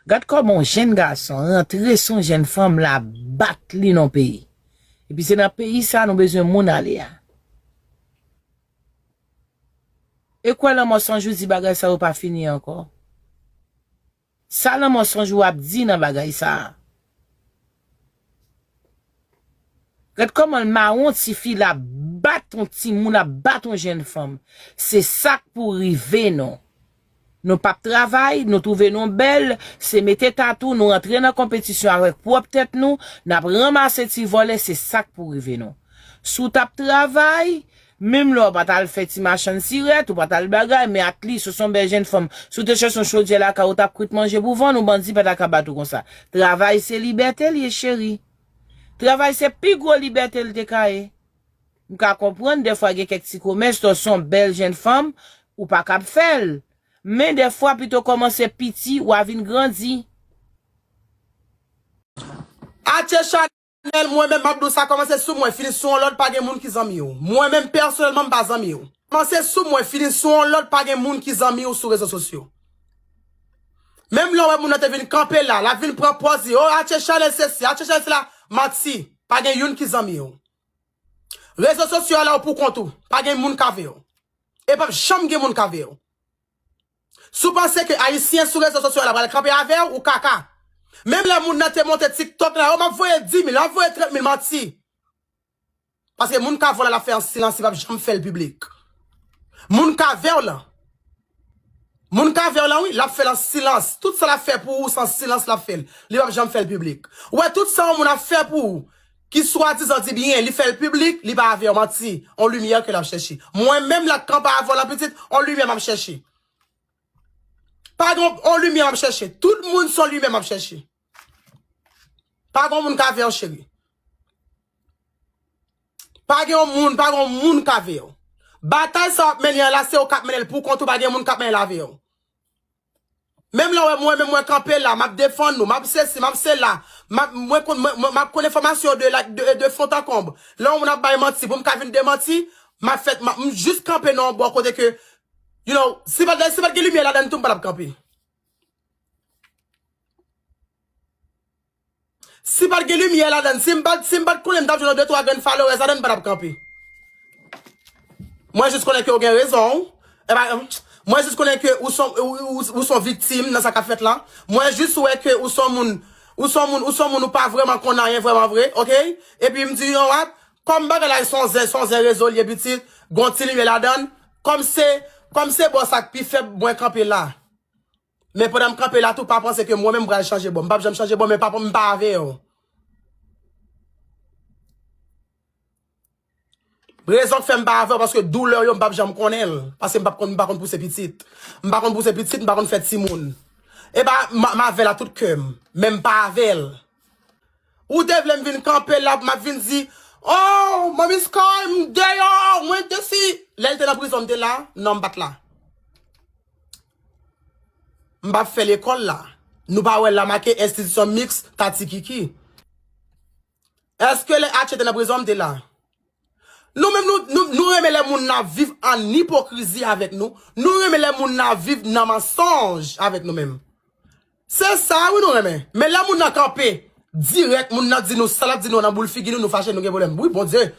Gad kòman yon jenn gason rantre sou yon jenn fanm la bat li nan peyi epi se nan peyi sa nou bezwen moun ale a e kwè lanmò sanjou di bagay sa yo pa fini ankò sa lanmò sanjou ap di nan bagay sa. Gad koman l mawon tifi la ap bat yon timoun ap bat yon jenn fanm se sak pou rive nou nou pap travay nou twouve nou bèl se mete tatou nou antre nan konpetisyon avèk pwòp tèt nou nap ranmase ti vòlè se sak pou rive nou si w tap travay Menm lè w pa t al fè ti machann sirèt, ou pa t al bagay, men atlis ou se yon bèl jenn fanm. Si w te chèche yon chodyè lakay ou, ou t ap kwit manje pou vann ou, bandi pa ta ka bat ou konsa. Travay se libète l ye cheri. Travay se pi gwo libète l te ka ye. M ka konprann dèfwa gen kèk ti komès lè w se yon bèl jenn fanm, ou pa kab fè l. Men dèfwa pito kòmanse piti, wa vin grandi. Atye chak Anel mwen menm map diw sa kòmanse sou mwen fini sou yon lòt pa gen moun ki zanmiw mwen menm pèsonèlman m pa zanmiw kòmanse sou mwen fini sou yon lòt pa gen moun ki zanmiw sou rezo sosyo menm lè ou wè moun nan te vin kanpe la lap vin pran pòz li oh atye chanèl sesi atye chanèl sela manti pa gen youn ki zanmiw rezo sosyo a la ou pou kont ou pa gen moun k avew e pap janm gen moun k avew. Si w panse ke ayisyen sou rezo sosyo la pral kanpe avè w, ou kaka. Menm lè moun nan te monte tiktok la, oh map voye 10 mil, map voye 30 mil, manti. Paske moun ka vòlè lap fè an silans li pap janm fèl piblik. Moun ka vè w lan, moun ka vè w lan wi, lap fèl an silans. Tout sa lap fè pou ou se an silans lap fèl, li pap janm fèl piblik. Ou wè tout sa yon moun ap fè pou ou, Ki swadizan di byen, li fèl piblik, li pa avèw, manti, on lumière ke lap chèche. Mwen menm la kan pa avèw la pitit, on lumière map chèche. Pa gen on lumière map chèche, tout moun son lumière map chèche. Pa gen on moun kavèw cheri. Pa gen on moun, pa gen on moun kavèw. Batay sa wap mennen an la se ou kap mennenl pou kont ou pa gen moun kap mennenl avèw. Menm lè w wè mwen menm mwen kanpe la, map defann nou, map sesi, map sela, map mwen konn mwen mwen map konn enfòmasyon yo de la de de font an konb. Lè yon moun ap bay manti pou m ka vin demanti, map fè map m jis kanpe nan yon bò kote ke you know, si pat si pat gen limyè ladann tou m pa tap kanpe. Si pat gen limyè ladann, si m pat si m pat konnen m tap jwenn yon de twa grenn followers ladann m patap kanpe. Mwen jis konnen ke w gen rezon w, epa mwen jis konnen ke ou son ou son viktim nan sa kap fèt la. Mwen jis wè ke ou son moun ou son moun ou son moun ou pa vrèman konn anyen vrèman vre ok. Epi m di yon wap kòm bagay la son zen son zen rezo l ye pitit gon ti limyè ladann kòm se kòm se bò sa k pi fèb mwen kanpe la. Men pandan m kanpe la tou pa panse ke mwen menm m pral chanje bò. M pap janm chanje bò men pa m pa avew. Rezon k fè m pa avew paske douleur yo m pap janm konnen l. Paske m pap konn m pa konn pouse pitit. M pa konn pouse pitit, m pa konn fè timoun. E pa m avew a tout kè m. Men m pa avew. Ou te vle m vin kanpe la pou m ap vin di Oh manmi sky m deyò mwen te si. Lè l te nan prizon m te la? Non m pat la. M pap fè lekòl la. Nou pa wè la make enstitisyon miks ta ti kiki. Eske lè Atchie te nan prizon m te la? Nou menm nou renmen lè moun nan viv an ipokrizi avèk nou, nou renmen lè moun nan viv nan mansonj avèk nou menm. Se sa wi nou renmen. Men lè moun nan kanpe dirèk, moun nan di nou sa l ap di nou an nan boul figi nou, nou fache, nou gen pwoblèm. Wi Bondye!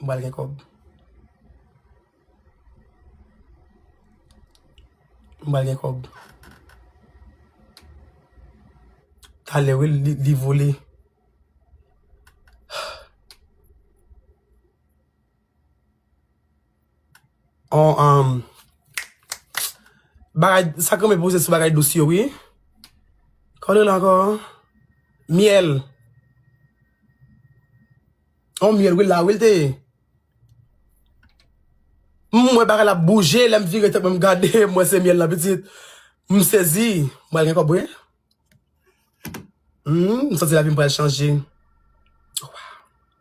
M pral gen kòb. M pral gen kòb. Talè wi li vole. On um bagay sak renmen poze sou bagay dous yo wi. Kòman li rele ankò? Myèl. On myèl wi la wi l te ye. M wè bagay la bouje lè m vire tèt mwen m gade m wè se myèl la pitit. M sezi. M pral gen kòb wi. Humm m santi lavi m pral chanje.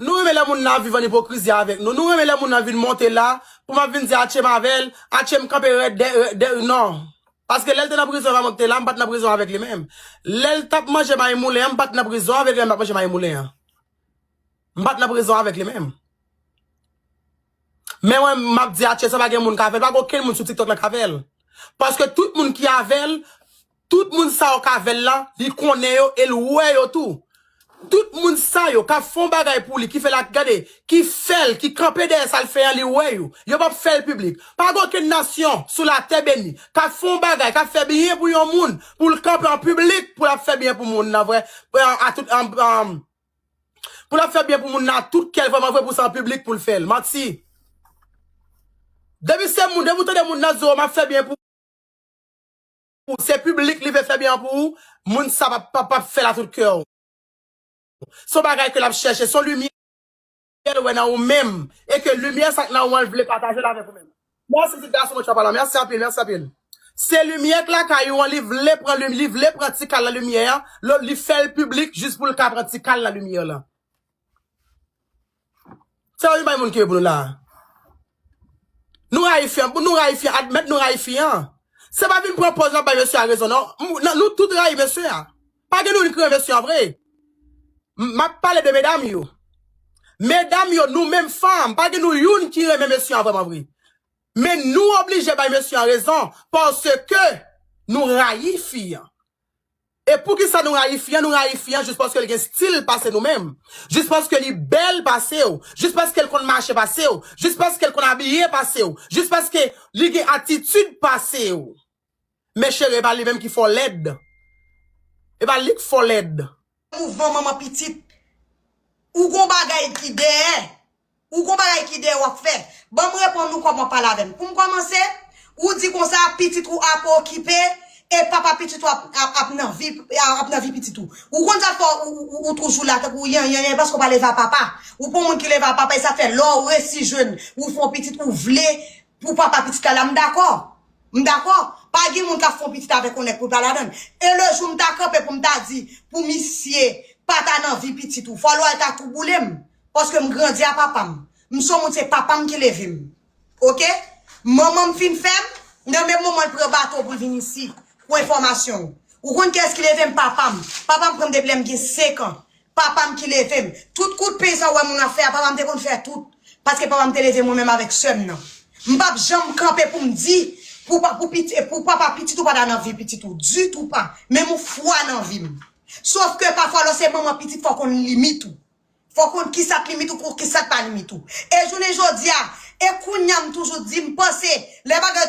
Nou renmen lè moun nan ap viv an ipokrizi avèk nou. Nou renmen lè moun nan vin monte la pou m ap vin di atchye m avè l, atchye m kanpe rèd dèyè l. Non! Paske lè l te nan prizon evan mwen ki te la, m pa t nan prizon avèk li menm. Lè l t ap manje mayi moulen an, m pa t nan prizon avèk li lè m t ap manje mayi moulen an. M pa t nan prizon avèk li menm. Men wè map di atye sa pa gen moun ka fèl pa gen okenn moun sou tiktok la ka fèl paske tout moun ki avèl tout moun sa yo k avèl la li konnen yo el wè yo tou tout moun sa yo kap fon bagay pou li ki fèl ak gade ki fèl ki kanpe dèyè sal fè an li wè yo yo pap fèl piblik pa gen okenn nasyon sou latè beni kap fon bagay kap fè byen pou yon moun poul kanpe an piblik pou lap fè byen pou moun nan vre a tout Pou lap fè byen pou moun nan tout kèl vrèman vre pou se an piblik poul fèl manti depi se moun depi ou tande moun nan di w map fè byen pou ou se piblik li vle fè byen an pou ou moun sa pap fèl a tout kèw son bagay ke lap chèche son limyè Syèl wè nan ou menm e ke limyè sa k nan ou an l vle pataje l avèk ou menm. Mèsi ti gason mwen tchapa lan mèsi anpil mèsi anpil. Se limyè k lakay ou an li vle pran limyè li vle pran ti kal nan limyè an lo li fè l piblik jis pou l ka pran ti kal nan limyè lan. Sè yon bay moun ki yo pou nou la a. Nou rayi fi an, nou rayi fi an, admèt nou rayi fi an. Se pa vin pran pòz nap bay mesye a rezon non. Nou tout rayi mesye a. Pa gen nou ki renmen mesye an vre. Map pale de medam yo. Medam yo nou menm fanm, pa gen nou youn ki renmen mesye an vrèman vre. Men nou oblije bay mesye an rezon paske nou rayi fi an. E poukisa nou rayi fi an, nou rayi fi an jis paske l gen stil pase nou menm, jis paske li bèl pase w, jis paske l konn mache pase w, jis paske l konn abiye pase w, jis paske li gen atitid pase w. Men chere e pa li menm ki fò lèd, e pa li k fò lèd. Mouvman manman pitit. Ou gon bagay ki dèyè. Ou gon bagay ki dèyè wap fè. Banm reponn ou kòman pale avèm. Poum kòmanse, ou di konsa pitit ou ap okipe e papa pitit ou ap nan vi ap nan vi pitit ou. Ou konn sa fè ou toujou la tankou yanyanyan paske ou pa leve a papa. Ou pa yon moun ki leve a papa e sa fè lè ou resi jwenn ou fè yon pitit ou vle pou papa pitit la la m dakò. M dakò. Pa gen moun kap fè yon pitit avèk yon nèg poul pa ladann. E le jou m ta kanpe poum ta di pou misye pa ta nan vi pitit ou. Fò lwa ta tou boulem. Paske m grandi a papa m. M son moun se papa m ki leve m. Ok. Manman m fin fè m. Nan menm moman l pran bato pou l vin isi. Pou enfòmasyon w. Ou konn kiyès ki leve m? Papa m. Papa m pran m depi lè m gen 5 an. Papa m ki leve m. Tout kout pen sa w wè moun ap fè a, papa m te konn fè tout. Paske papa m te leve mwen menm avèk sè m nan. M pa p janm kanpe pou m di pou papa pitit ou pa ta nan vi pitit ou. Ditou pa. Menm ou fwa nan vi m. Sofke pafwa lè w se manman pitit fò w konn limit ou. Fò w konn ki sa k limit ou kou ki sa k pa limit ou. E jounen jodi a, e kounye a m toujou di m panse lè bagay.